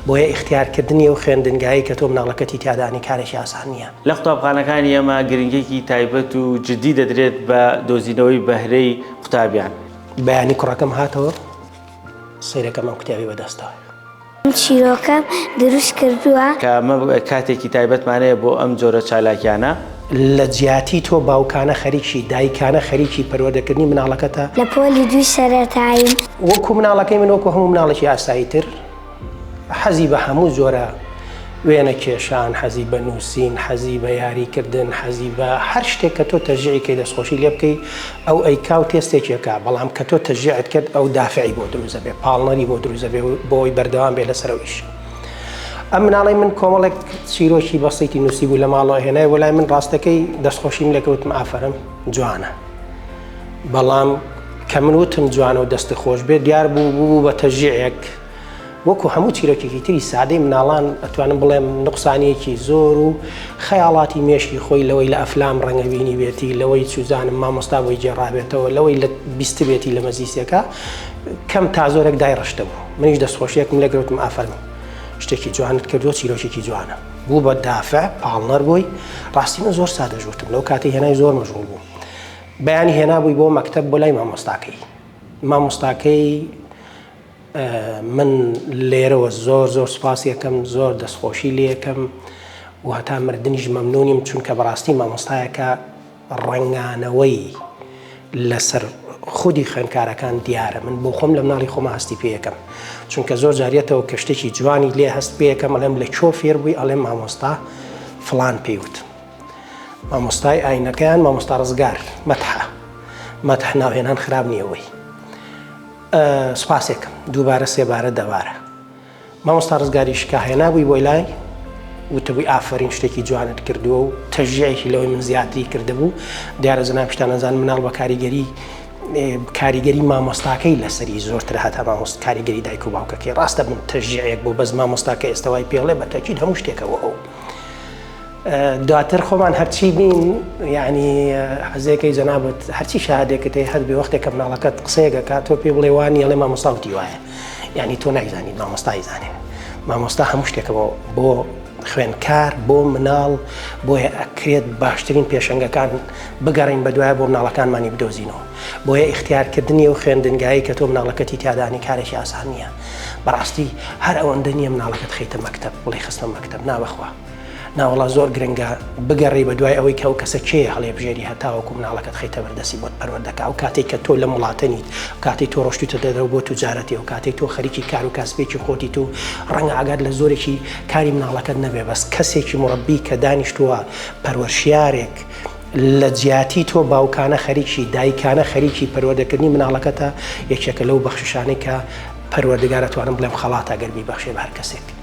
بۆیە ئیختیارکردنی ئەو خوێندنگایەی کە تۆ مناڵەکەتی تیادا ئەنێی کارێکی ئاسان نییە. لە قوتابخانەکانی ئێمە گرنگییەکی تایبەت و جددی دەدرێت بە دۆزینەوەی بەهرەی قوتابیان. بەیانی کوڕەکەم هاتەوە سەیرەکەم ئەم کتێبەی بەدەستە. من چیرۆکەم دروست کردووە. کە ئەمە کاتێکی تایبەتمانەیە بۆ ئەم جۆرە چالاکیانە. لە جیاتی تۆ باوکانە خەریکی، دایکانە خەریکی پەروەردەکردنی مناڵەکەتە. لە پۆلی دووی سەرەتاییم. وەکو مناڵەکەی من وەکو هەموو مناڵێکی ئاسایی تر. حەزی بە هەموو جۆرە وێنە کێشان حەزی بە نووسین حەزی بە یاریکردن حەزی بە هەر شتێک کە تۆ تەژیعیکەی دەستخۆشی لێ بکەیت ئەو ئەیکا و تێستێکێکە بەڵام کە تۆ تەژیعت کرد ئەو دافعی بۆ دروزە بێ پاڵنەری بۆ دروزە بێ بۆی بەردەوام بێ لەسەرەوەیش. ئەم مناڵی من کۆمەڵێک چیرۆکی بەسیتی نووسی بوو لە ماڵەوە هێنای وەلای من ڕاستەکەی دەستخۆشیم لەکەوتم ئافرم جوانە. بەڵام کە من وتم جوانە و دەستە خۆش بێت دیار بوو بوو بە تەژیعێک وەکو هەموو چیرۆکێکی تری سادەی مناڵان ئەتوانم بڵێم نقصانیەکی زۆر و خەیاڵاتی مێشکی خۆی لەوەی لە ئەفلام ڕەنگەبینی بێتی لەوەی چوزانم مامۆستا بۆی گێڕابێتەوە لەوەی لە بیستبێتی لە مەزیسەکە کەم تا زۆرێک دای ڕشتە بوو منیش دەستخۆشیەکم لەگەوتم ئافەرم شتێکی جوانت کردو چیرۆکێکی جوانە بوو بە دافع پاڵنەر بووی ڕاستی من زۆر سادە ژورتم لەو کاتی هێنای زۆر مەژغول بوو بەیانی هێنابووی بۆ مەکتب بۆ لای مامۆستاکەی مامۆستاکەی من لێرەوە زۆر زۆر سوپاسیەکەم زۆر دەستخۆشی لەکەم و هەتا مردنیش مەمنونیم چونکە بەڕاستی مامۆستایەکە ڕەنگانەوەی لەسەر خودی خوێندکارەکان دیارە من بۆ خۆم لە مناڵی خۆمە هەستی پێەکەم چونکە زۆر جاریەتەوە کە شتێکی جوانی لێ هەست پێەکەم ئەڵێم لە کۆ فێر بووی ئەڵێم مامۆستا فلان پێیوت مامۆستای ئاینەکەیان مامۆستا ڕزگار مەتحە مەتح ناوهێنان خراب نیەوەی سپاسێکم دووبارە سێبارە دەبارە مامۆستا ڕزگاری شکا هێنابووی بۆی لای وتبووی ئافەرین شتێکی جوانت کردووە و تەژیایەکی لەوەی من زیاتری کردبوو دیارە زەنا پیشتانەزان مناڵ بە کاریگەری کاریگەری مامۆستاکەی لەسەری زۆرتر هاتا مامۆست کاریگەری دایک و باوکەکەی ڕاستە من تەژیەک بۆ بەس مامۆستاکە ئێستاوای پێڵێ بە تەکیید هەموو شتێکەوە ئەو دواتر خۆمان هەرچی بین یعنی حەزێکەی جەنابت هەرچی شادێکت هەیە هەربێ وەختێک کە مناڵەکەت قسەیەکەکە تۆ پێ بڵێ وانی ئەڵێ مامۆساوتی وایە یعنی تۆ نایزانی مامۆستای زانێ مامۆستا هەموو شتێکەوە بۆ خوێنکار بۆ مناڵ بۆیە ئەکرێت باشترین پێشنگەکان بگەڕین بە دوایە بۆ مناڵەکانمانی بدۆزینەوە بۆیە اختیارکردنی و خوێندنگایی کە تۆ مناڵەکەتی تیادانی کارێکی ئاسان نییە بەڕاستی هەر ئەوەندە نییە مناڵەکەت خیتە مەکتب بڵی خستە مەکتب ناوەخوا ناوەڵا زۆر گرنگە بگەڕی بە دوای ئەوەی کە ئەو کەسە کێ هەڵێ بژێری هەتاوەکو مناڵەکەت خیتە بەردەسی بۆت پەروەردەکە ئەو کاتێک کە تۆ لە وڵاتەنیت کاتی تۆ ڕۆشتیتە دەرەوە بۆ توجارەتی و کاتی تۆ خەریکی کار و کاسبێکی خۆتی تو ڕەنگە ئاگات لە زۆرێکی کاری مناڵەکەت نەبێ بەس کەسێکی مڕبی کە دانیشتووە پەروەشیارێک لە جیاتی تۆ باوکانە خەریکی دایکانە خەریکی پەروەردەکردنی مناڵەکەتە یەکێکە لەو بەخششانەی کە پەروەردگارە توانم بڵێم خەڵاتە گەربی بەخشێ بە هەر کەسێک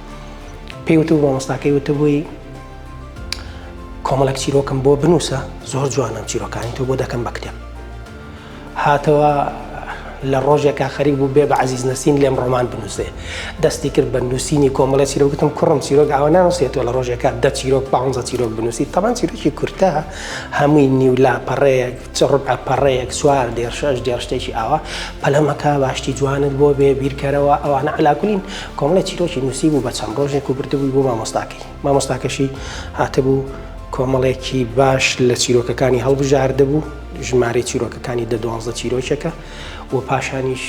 پێی وتبوو مامۆستاکەی وتبووی کۆمەڵک چیرۆکم بۆ بنووسە زۆر جوانم چیرۆکانی تۆ بۆ دەکەم بە کتێب هاتەوە لە ڕۆژێکا خەریک بوو بێ بە عزیز نسین لێم ڕۆمان بنووسێ دەستی کرد بە نووسینی کۆمەڵە چیرۆکتم کوڕم چیرۆک ئەوە ناوسێتەوە لە ڕۆژێکا دە چیرۆک پ چیرۆک بنووسی تەمان چیرۆکی کورتە هەمووی نیولا پەڕەیەک چ ڕبع پەڕەیەک چوار دێڕ شەش دێڕ شتێکی ئاوا پەلەمەکە با شتی جوانت بۆ بێ بیرکەرەوە ئەوانە عەلاکولین کۆمەڵێ چیرۆکی نووسیبوو بە چەند ڕۆژێک و بردبووی بۆ مامۆستاکەی مامۆستاکەشی هاتبوو کۆمەڵێکی باش لە چیرۆکەکانی هەڵبژاردبوو ژمارەی چیرۆکەکانی دە دوانزە چیرۆکێکە و پاشانیش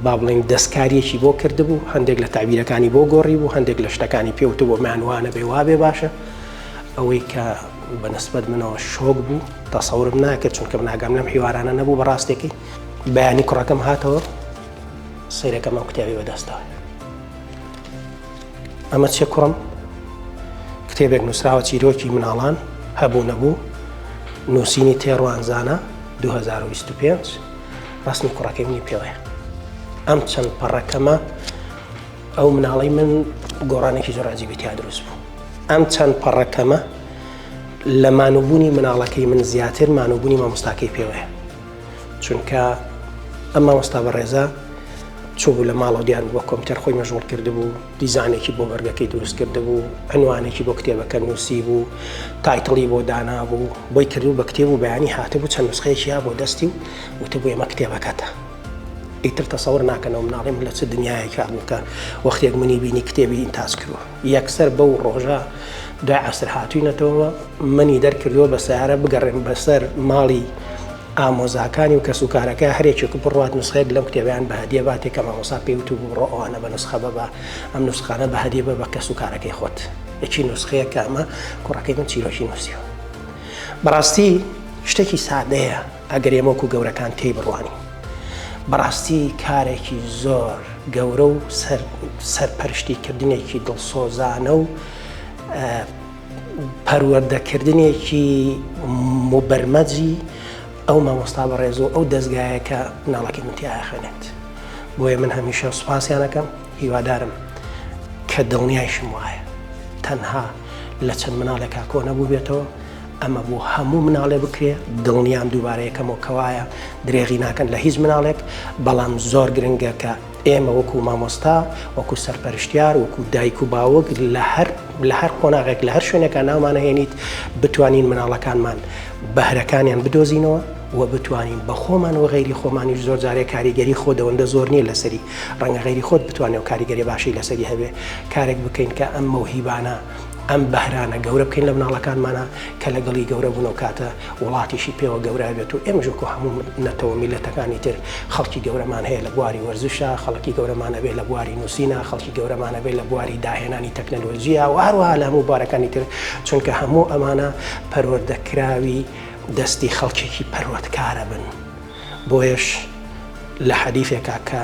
با بڵین دەستکاریەکی بۆ کردبوو هەندێک لە تابیرەکانی بۆ گۆڕی بوو هەندێک لە شتەکانی پێوتە بۆ مانوانە بێ وابێ باشە ئەوەی کە بە نسبەت منەوە شۆک بوو تەسەورم ناکرد چونکە من ئاگام لەم حیوارانە نەبوو بە ڕاستێکی بەیانی کوڕەکەم هاتەوە سیرەکەم ئەم کتێبی بەدەستەوە ئەمە چێ کوڕم کتێبێک نووسراوە چیرۆکی مناڵان هەبوو نەبوو نووسینی تێڕوانزانە 2025 ڕسمی کوڕەکەی منی پێوەیە ئەم چەند پەڕەکەمە ئەو مناڵی من گۆڕانێکی زۆراجیبی تیا دروست بوو ئەم چەند پەڕە کەمە لە مانوبوونی مناڵەکەی من زیاتر مانوبوونی مامۆستاکەی پێوەیە چونکە ئەم مامۆستا بەڕێزە چوبوو لە ماڵەوە دیار بووە کۆمپیوتەر خۆی مەژغول کرد بوو دیزانێکی بۆ بەرگەکەی دروست کرد بوو ئەنوانێکی بۆ کتێبەکە نووسی بوو تایتڵی بۆ دانا بوو بۆی کردو بە کتێب و بەیانی هاتبوو چەند نسخەیەکییا بۆ دەستی و وتبوو ئێمە کتێبەکەتە ئیتر تەسەور ناکەنەوە مناڵیم لە چ دنیایەکە بووکە وەختێک منی بینی کتێبی ئینتاج کردوە یەکسەر بەو ڕۆژە دوای عەسر هاتووینەتەوە، منی دەرکردووە بە سەیارە بگەڕێم بەسەر ماڵی ئامۆزاکانی و کەسوکارەکەی، هەر یەکێک بڕوات نوسخەیەک لەم کتێبەیان بە هەدیە باتێ کە مامۆستا پێی وتووبوو بڕۆ ئەوانە بە نوسخە بەبە، ئەم نوسخانە بە هەدیە بە بە کەسوکارەکەی خۆت، یەکی نوسخەیە کە ئەمە کوڕەکەی من چیرۆکی نووسیوە. بەڕاستی شتێکی سادەیە. ئەگەر ئێمە وەکو گەورەکان تێی بڕوانین بەڕاستی کارێکی زۆر گەورە و سەرپەرشتی کردنێکی دڵسۆزانە و پەروەردەکردنێکی مبەرمەجی ئەو مامۆستا بە ڕێزۆ ئەو دەستگایەکە ناڵەکەی منتیایە خوێنێت بۆیە من هەمیشە سوپاسیانەکەم هیوادارم کە دڵنیایشم وایە تەنها لە چەند مناڵێکا کۆنەبوو بێتەوە ئەمە بۆ هەموو مناڵێ بکرێ دڵنیام دووبارە یەکەمەوە کەوایە درێغی ناکەن لە هیچ مناڵێک بەڵام زۆر گرنگە کە ئێمە وەکو مامۆستا وەکو سەرپەرشتیار وەکو دایک و باوەک لە هەر لە هەر قۆناغێک لە هەر شوێنێکە ناومانەهێنیت بتوانین مناڵەکانمان بەهرەکانیان بدۆزینەوە و بتوانین بە خۆمان و غیری خۆمانیش زۆر جارێک کاریگەری خۆ دەوەندە زۆر نییە لەسەری ڕەنگە غیری خۆت بتوانێت و کاریگەری باشی لەسەری هەبێ کارێک بکەین کە ئەم مەوهیبانە ئەم بەهرانە گەورە بکەین لە مناڵەکانمانە کە لەگەڵی گەورە بوون و کاتە وڵاتیشی پێوە گەورە بێت و ئێمە ژۆکو هەموو نەتەوە میلەتەکانی تر خەڵکی گەورەمان هەیە لە بواری وەرزشە خەڵکی گەورەمانەبێ لە بواری نووسینە خەڵکی گەورەمانەبێ لە بواری داهێنانی تەکنەلۆژیە و هەروها لە هەموو بارەکانی تر چونکە هەموو ئەمانە پەروەردەکراوی دەستی خەڵکێکی پەروەردکارە بن بۆیەش لە حەدیثێکا کە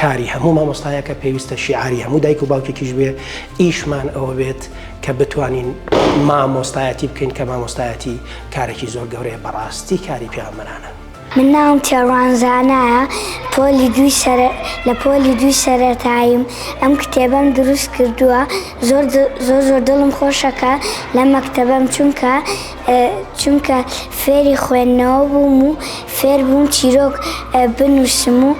کاری هەموو مامۆستایەکە پێویستە شیعاری هەموو دایک و باوکێکیش بێ ئیشمان ئەوە بێت کە بتوانین مامۆستایەتی بکەین کە مامۆستایەتی کارێکی زۆر گەورەیە بەڕاستی کاری پیامەرانە من ناوم تێڕوانزانایە پۆلی دوی سەر لە پۆلی دوی سەرەتاییم ئەم کتێبەم دروست کردووە زۆر زۆر زۆر دڵم خۆشەکە لە مەکتتەبەم چونکە چونکە فێری خوێندنەوە بووم و فێر بووم چیرۆک بنووسم و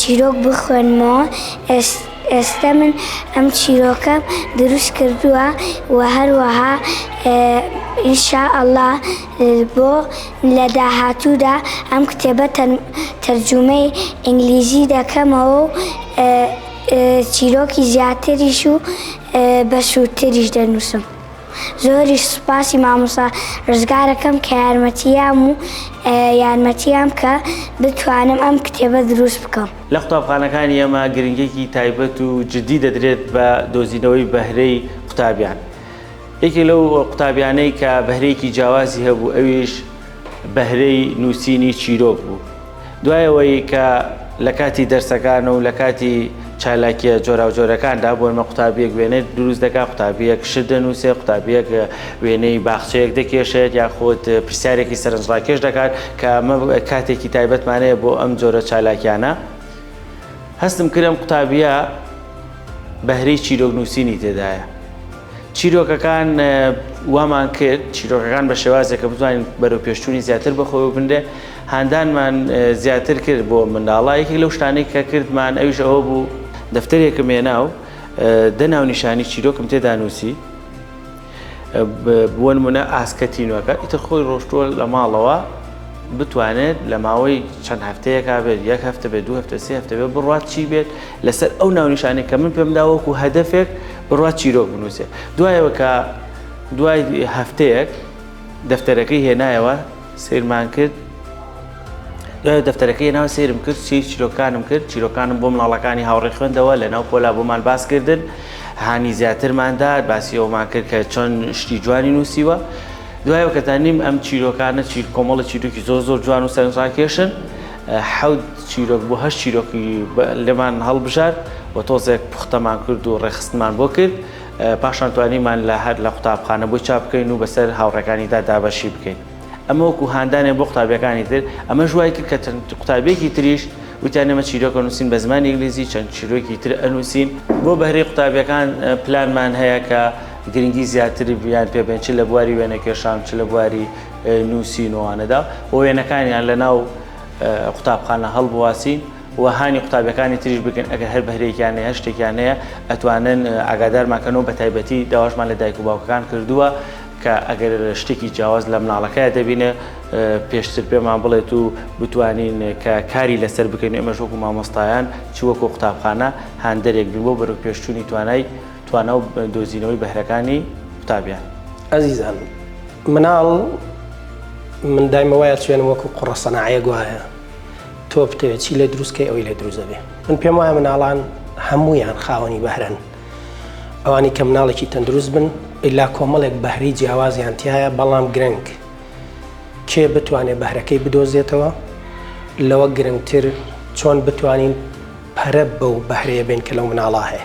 چیرۆک بخوێنمەوە ئێستا من ئەم چیرۆکە دروست کردووە و هەروەها ئینشا ئەڵا بۆ لە داهاتوودا ئەم کتێبە تەرجومەی ئینگلیزی دەکەمەوە و چیرۆکی زیاتریش و بەسوودتریش دەنووسم. زۆریش سوپاسی مامۆستا ڕزگارەکەم کە یارمەتیام و یارمەتیام کە بتوانم ئەم کتێبە دروست بکەم. لە قوتابخانەکانی ئێمە گرنگیەکی تایبەت و جدی دەدرێت بە دۆزینەوەی بەهرەی قوتابیان. یەکێک لەو قوتابیانەی کە بەهرەیەکی جیاوازی هەبوو ئەویش بەهرەی نووسینی چیرۆک بوو. دوای ئەوەی کە لە کاتی دەرسەکان و لە کاتی چالاکیە جۆراوجۆرەکاندا بۆنمە قوتابیەک وێنێت دروست دەکات قوتابیەک شت دەنووسێ قوتابیەک وێنەی باخچەیەک دەکێشێت یاخود پرسیارێکی سەرنجڕاکێش دەکات کە ئەمە کاتێکی تایبەتمانەیە بۆ ئەم جۆرە چالاکیانە هەستم کرم قوتابیە بەهرەی چیرۆک نووسینی تێدایە چیرۆکەکان وامان کرد چیرۆکەکان بە شێوازێکە بتوانین بەرەو پێشتونی زیاتر بەخۆی بنرێ هاندانمان زیاتر کرد بۆ منداڵە یەکێک لەو شتانەی کە کردمان ئەویش ئەوە بوو دەفتەرێکم هێنا و دە ناونیشانی چیرۆکم تێدا نووسی بوون منە ئاسکە تینوەکە ئیتر خۆی ڕۆشتووە لە ماڵەوە بتوانێت لە ماوەی چەند هەفتەیەکا بێت یەک هەفتە بێت دو هەفتە سێ هەفتە بێت بڕات چی بێت لەسەر ئەو ناونیشانێک کە من پێمدا وەکو هەدەفێک بڕات چیرۆک بنووسێت دوایەوە کە دوای هەفتەیەک دەفتەرەکەی هێنایەوە سەیرمان کرد دوای دەفتەرەکەی ناو سێرم کرد سی چیرۆکانم کرد چیرۆکانم بۆ مناڵەکانی هاوڕێ خوێندەوە لە ناو پۆلا بۆمان باس کردن هانی زیاترماندا باسی ئەومان کرد کە چۆن شتی جوانی نووسیوە دوای کەزانیم ئەم چیرۆکانە چیر کۆمەڵە چیرۆکی زۆر زۆر جوان و سەرنجڕاکێشن حەوت چیرۆک بۆ هەر چیرۆکی لەمان هەڵبژارد و تۆزێک پوختەمان کرد و ڕێخستمان بۆ کرد پاشان توانیمان لە هەر لە قوتابخانە بۆی چاپ بکەین و بەسەر هاوڕێکانیدا دابەشی بکەین ئەمە وەکو هاندانێ بۆ قوتابیەکانی تر ئەمە ژوای کرد کە قوتابێکی تریش وتیان ئمە چیرۆکە نووسین بە زمان ئینگلیزی چەند چیرۆکی تر ئەنووسین بۆ بەهرەی قوتابیەکان پلانمان هەیە کە گرنگی زیاتر بیان پێبێن چ لە بواری وێنە کێشان چ لە بواری نووسینوانەدا و وێنەکانیان لە ناو قوتابخانە هەڵبواسین و هانی قوتابیەکانی تریش بکەن ئەگەر هەر بەهرەیەکیان هەیە هەر شتێکیان هەیە ئەتوانن ئاگادارمان کەنەوە بە تایبەتی داواشمان لە دایک و باوکەکان کردووە کە ئەگەر شتێکی جیاواز لە مناڵەکەی دەبینێ پێشتر پێمان بڵێت و بتوانین کە کاری لەسەر بکەین ئێمەش وەکو مامۆستایان چ وەکو قوتابخانە هاندەرێک بین بۆ بەرەو پێشچوونی توانای توانا و دۆزینەوەی بەهرەکانی قوتابیان ئەزیزان مناڵ من دایمە وایە چێنم وەکو قوڕە سەناعەیە گوایە تۆ بتەوێت چی لێ دروست کەی ئەوی لێ دروست دەبێ من پێم وایە مناڵان هەمویان خاوەنی بەهرەن ئەوانی کە مناڵێکی تەندروست بن ئللا کۆمەڵێک بەهری جیاوازیان تایە بەڵام گرنگ کێ بتوانێت بەهرەکەی بدۆزێتەوە لەوە گرنگتر چۆن بتوانین پەرە بەو بەهرەیە بین کە لەو مناڵا هەیە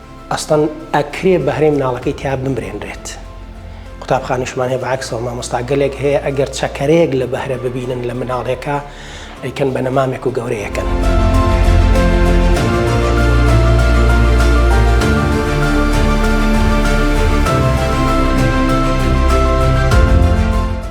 ئەسڵەن ئەکرێ بەهرەی مناڵەکەی تیا بمرێنرێت قوتابخانشمان هەیە بەعکسەوە مامۆستا گەلێک هەیە ئەگەر چەکەرەیەک لە بەهرە ببینن لە مناڵێکە ئەیکەن بە نەمامێک و گەورەیەکەن.